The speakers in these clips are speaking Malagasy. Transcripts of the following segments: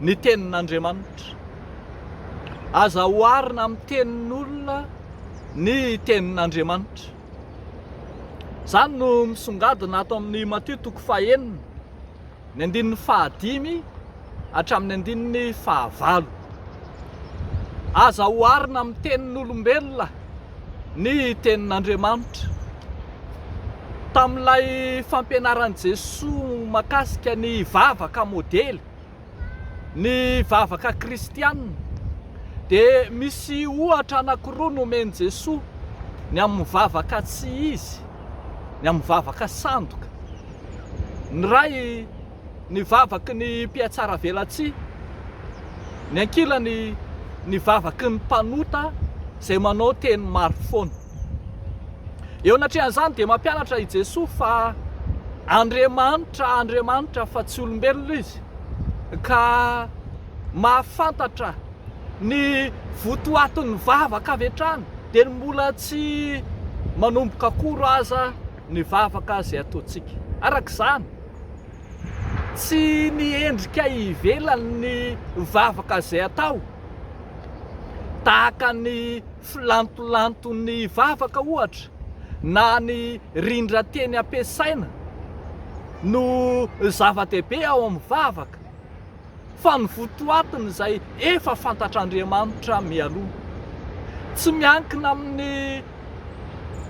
ny tenin'Andriamanitra. Aza oharina amin'ny tenin'olona ny tenin'Andriamanitra. Izany no misongadina ato amin'ny Matio toko fahenina, ny andininy fahadimy hatramin'ny andininy fahavalo. Aza oharina amin'ny tenin'olombelona Ny Tenin'Andriamanitra. Tamin'ilay fampianaran'i Jesoa mahakasika ny vavaka modely, ny vavaka kristiana, dia misy ohatra anankiroa nomen'i Jesoa, ny amin'ny vavaka tsy izy, ny amin'ny vavaka sandoka. Ny iray. ny vavaky ny mpihatsaravelatsihy, ny ankilany ny vavaky ny mpanota izay manao teny maro foana. Eo anatrehan'izany dia mampianatra i Jesoa fa Andriamanitra, Andriamanitra fa tsy olombelona izy ka mahafantatra ny votoatin'ny vavaka avy hatrany dia ny mbola tsy manomboka akory aza ny vavaka izay ataontsika. Araka izany. Tsy ny endrika ivelany ny vavaka izay atao, tahaka ny filantolanton'ny vavaka ohatra na ny rindran-teny ampiasaina no zava-dehibe ao amin'ny vavaka fa ny votoatiny izay efa fantatr'Andriamanitra mialoha. Tsy miankina amin'ny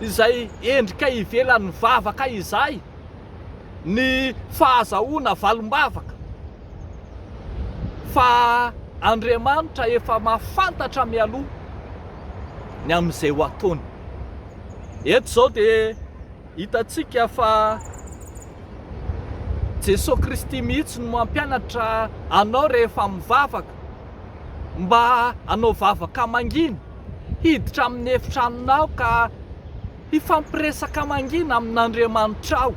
izay endrika ivelan'ny vavaka izay. ny fahazahoana valim-bavaka fa Andriamanitra efa mahafantatra mialoha ny amin'izay ho ataony. Eto izao dia hitantsika fa Jesoa Kristy mihitsy no mampianatra anao rehefa mivavaka mba hanao vavaka mangina, hiditra amin'ny efitranonao ka Hifampiresaka mangina amin'Andriamanitrao.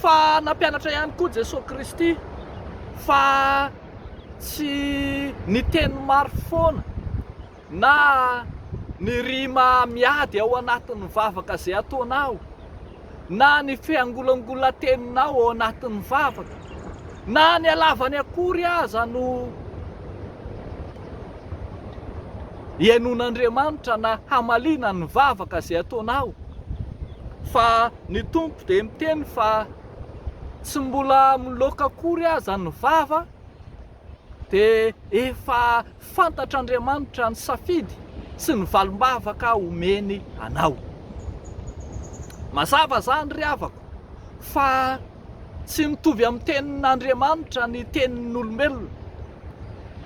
Fa nampianatra ihany koa Jesoa Kristy fa tsy ny teny maro foana na ny rima miady ao anatin'ny vavaka izay ataonao. na ny fiangolangolan-teninao ao anatin'ny vavaka, na ny halavany akory aza no hihainoan'Andriamanitra na hamaliana ny vavaka izay ataonao, fa ny Tompo dia miteny fa tsy mbola miloaka akory aza ny vava, dia efa fantatr'Andriamanitra ny safidy sy ny valim-bavaka omeny anao. Mazava izany ry havako fa tsy mitovy amin'ny tenin'Andriamanitra ny tenin'olombelona.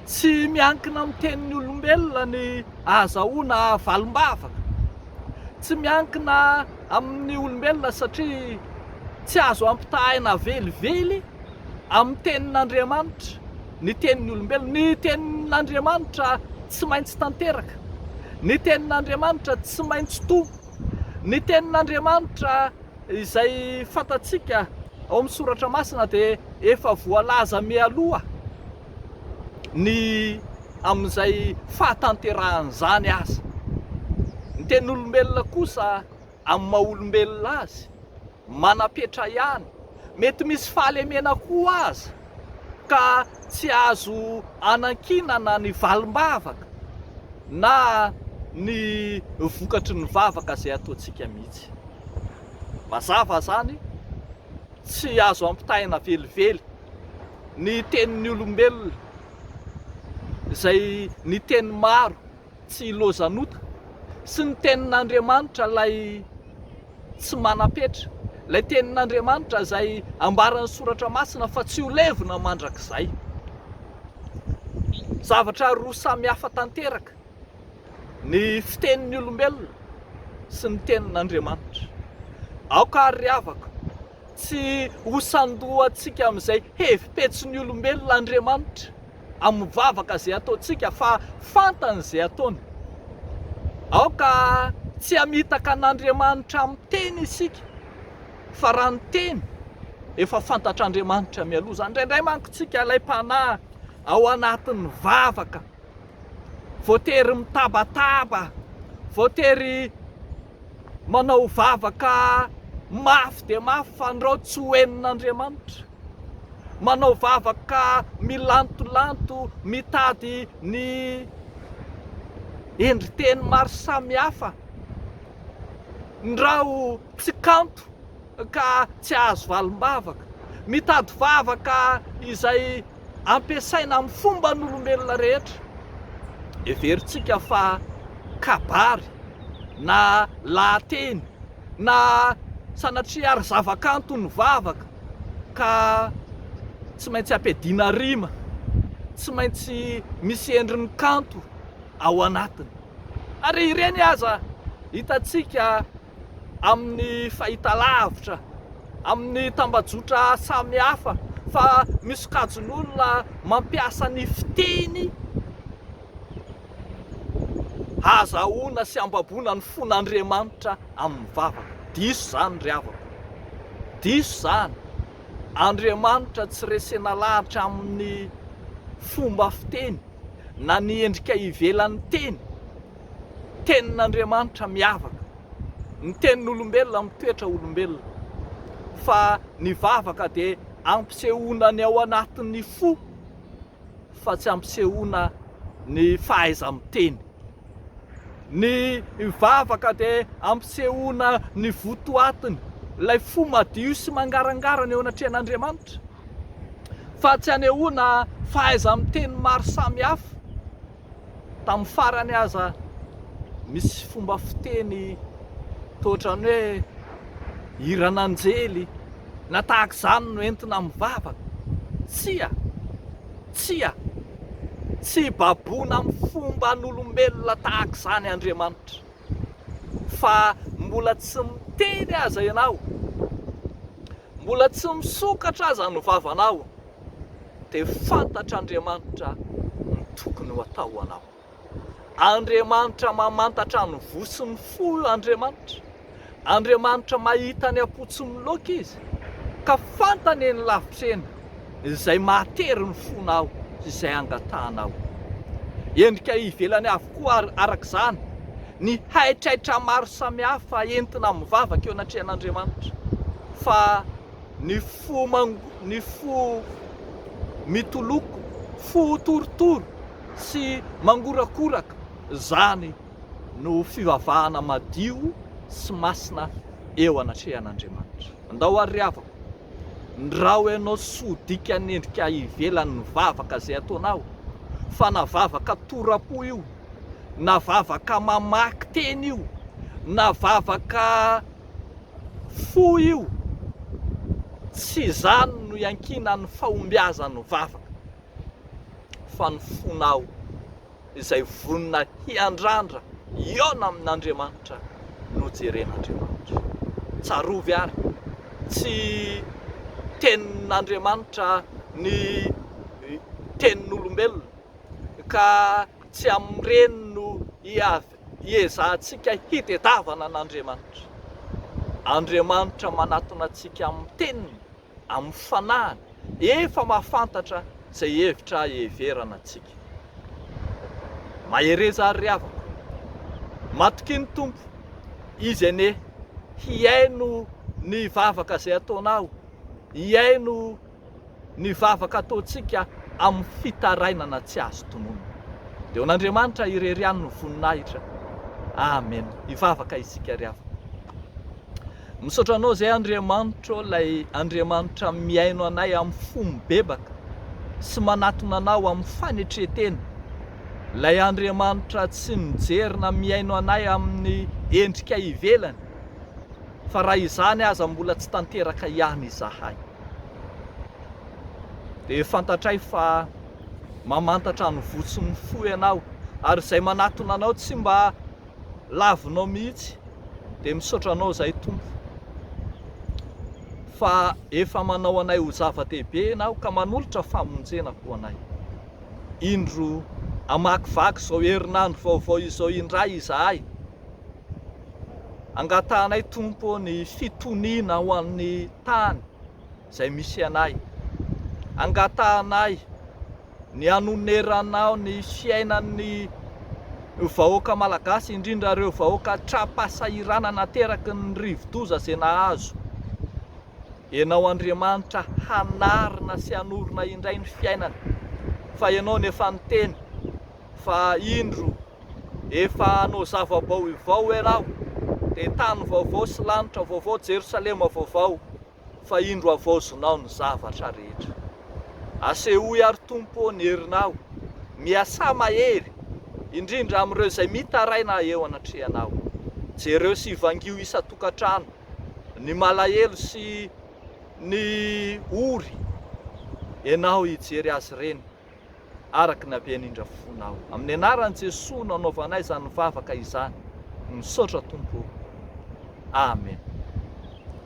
Tsy miankina amin'ny tenin'ny olombelona ny ahazahoana valim-bavaka. Tsy miankina amin'ny olombelona satria tsy azo ampitahaina velively amin'ny tenin'Andriamanitra ny tenin'ny olombelona. Ny tenin'Andriamanitra tsy maintsy tanteraka. Ny tenin'Andriamanitra tsy maintsy toa. Ny tenin'Andriamanitra izay fantatsika ao amin'ny soratra masina dia efa voalaza mialoha. ny amin'izay fahatanterahan'izany aza. Ny tenin'olombelona kosa amin'ny maha olombelona azy, manam-petra ihany, mety misy fahalemena koa aza ka tsy azo anankinana ny valim-bavaka na ny vokatry ny vavaka izay ataontsika mihitsy. Mazava izany, tsy azo ampitahaina velively. ny tenin'ny olombelona izay ny teny maro tsy lozanota sy ny tenin'Andriamanitra ilay tsy manam-petra, ilay tenin'Andriamanitra izay ambaran'ny soratra masina fa tsy ho levona mandrakizay. Zavatra roa samy hafa tanteraka ny fitenin'ny olombelona sy ny tenin'Andriamanitra. Aoka ary ry havako, Tsy ho sandoantsika amin'izay hevi-petsin'ny olombelona Andriamanitra amin'ny vavaka izay ataontsika fa fantany izay ataony. Aoka tsy hamitaka an'Andriamanitra amin'ny teny isika fa raha ny teny efa fantatr'Andriamanitra mialoha izany. Indraindray manko tsika ilay mpanahy ao anatin'ny vavaka, voatery mitabataba, voatery Manao vavaka mafy dia mafy fandrao tsy ho henon'Andriamanitra. Manao vavaka milantolanto mitady ny endri-teny maro samihafa. Ndrao tsy kanto ka tsy hahazo valim-bavaka. Mitady vavaka izay. ampiasaina amin'ny fomban'olombelona rehetra. Heverintsika fa kabary na lahateny na sanatria ary zavakanto ny vavaka ka tsy maintsy ampiadiana rima, tsy maintsy misy endriny kanto ao anatiny. Ary ireny aza hitantsika. amin'ny fahitalavitra, amin'ny tambajotra samihafa fa misy sokajin'olona mampiasa ny fiteny hahazahoana sy hambaboana ny fon'Andriamanitra amin'ny vavaka. Diso izany ry havako, diso izany. Andriamanitra tsy resena lahatra amin'ny fomba fiteny na ny endrika ivelan'ny teny. Tenin'Andriamanitra miavaka. Ny tenin'olombelona mitoetra olombelona. Fa ny vavaka dia ampisehoana ny ao anatin'ny fo fa tsy ampisehoana ny fahaiza-miteny. Ny vavaka dia ampisehoana ny votoatiny, ilay fo madio sy mangarangarana eo anatrehan'Andriamanitra. Fa tsy anehoana fahaiza-miteny maro samihafa. Tamin'ny farany aza misy fomba fiteny toa ohatran'ny hoe hiran'anjely na tahaka izany no entina amin'ny vavaka. Tsia! Tsia! Tsy baboina amin'ny fomban'olombelona tahaka izany Andriamanitra. Fa mbola tsy miteny aza ianao, mbola tsy misokatra aza ny vavanao, dia fantatr'Andriamanitra ny tokony ho atao ho anao. Andriamanitra mamantatra ny voa sy ny fo Andriamanitra. Andriamanitra mahita ny am-po tsy miloaka Izy, ka fantany eny lavitra eny izay mahatery ny fonao sy izay angatahanao. Endrika ivelany avokoa ary, araka izany, ny haitraitra maro samihafa entina mivavaka eo anatrehan'Andriamanitra, fa Ny fo ny fo mitoloko, fo torotoro sy mangorakoraka, izany no fivavahana madio sy masina eo anatrehan'Andriamanitra. Andao ary ry havako, ndrao ianao soa dikan'ny endrika ivelany ny vavaka izay ataonao, fa na vavaka tora-po io, na vavaka mamaky teny io, na vavaka fo io, tsy izany no iankinan'ny fahombiazan'ny vavaka, fa ny fonao izay vonona hiandrandra hihaona amin'Andriamanitra no jeren'Andriamanitra. Tsarovy ary, tsy tenin'Andriamanitra ny tenin'olombelona, ka tsy amin'ireny no Hiezahantsika hitedavana an'Andriamanitra. Andriamanitra manatona antsika amin'ny Teniny, amin'ny Fanahiny. Efa mahafantatra izay hevitra heverana antsika. Mahereza àry ry havako. Matokia ny Tompo. Izy anie hihaino ny vavaka izay ataonao, hihaino ny vavaka ataontsika amin'ny fitarainana tsy azo tononina. Dia ho an'Andriamanitra irery ihany ny voninahitra. Amen. Hivavaka isika ry havana. Misaotra anao izay Andriamanitro, ilay Andriamanitra mihaino anay amin'ny fo mibebaka sy manatona anao amin'ny fanetretena, ilay Andriamanitra tsy mijery na mihaino anay amin'ny endrika ivelany, fa raha izany aza mbola tsy tanteraka ihany izahay. dia fantatray fa mamantatra ny voa sy ny fo ianao ary izay manatona anao tsy mba lavinao mihitsy dia misaotra anao izay tompo fa efa manao anay ho zava-dehibe ianao ka manolotra famonjena ho anay indro amakivaky izao herinandro vaovao izao indray izahay Angatahanay Tompo ny fitoniana ho an'ny tany izay misy anay. Angatahanay ny hanoneranao ny fiainan'ny vahoaka Malagasy indrindra ireo vahoaka tra-pahasahiranana ateraky ny rivodoza izay nahazo Ianao Andriamanitra hanarina sy hanorina indray ny fiainany fa Ianao no efa niteny fa indro Efa hanao zava-baoivao ianao, dia tany vaovao sy lanitra vaovao, Jerosalema vaovao, fa indro havaozonao ny zavatra rehetra. Asehoy àry, Tompo ô, ny herinao, miasà mahery, indrindra amin'ireo izay mitaraina eo anatrehanao. Jereo sy vangio isan-tokantrano ny malahelo sy ny ory, ianao hijery azy ireny. araka ny habeany indra fona aho. Amin'ny anaran'i Jesoa no anaovanay izany vavaka izany. Misaotra Tompo o. Amen.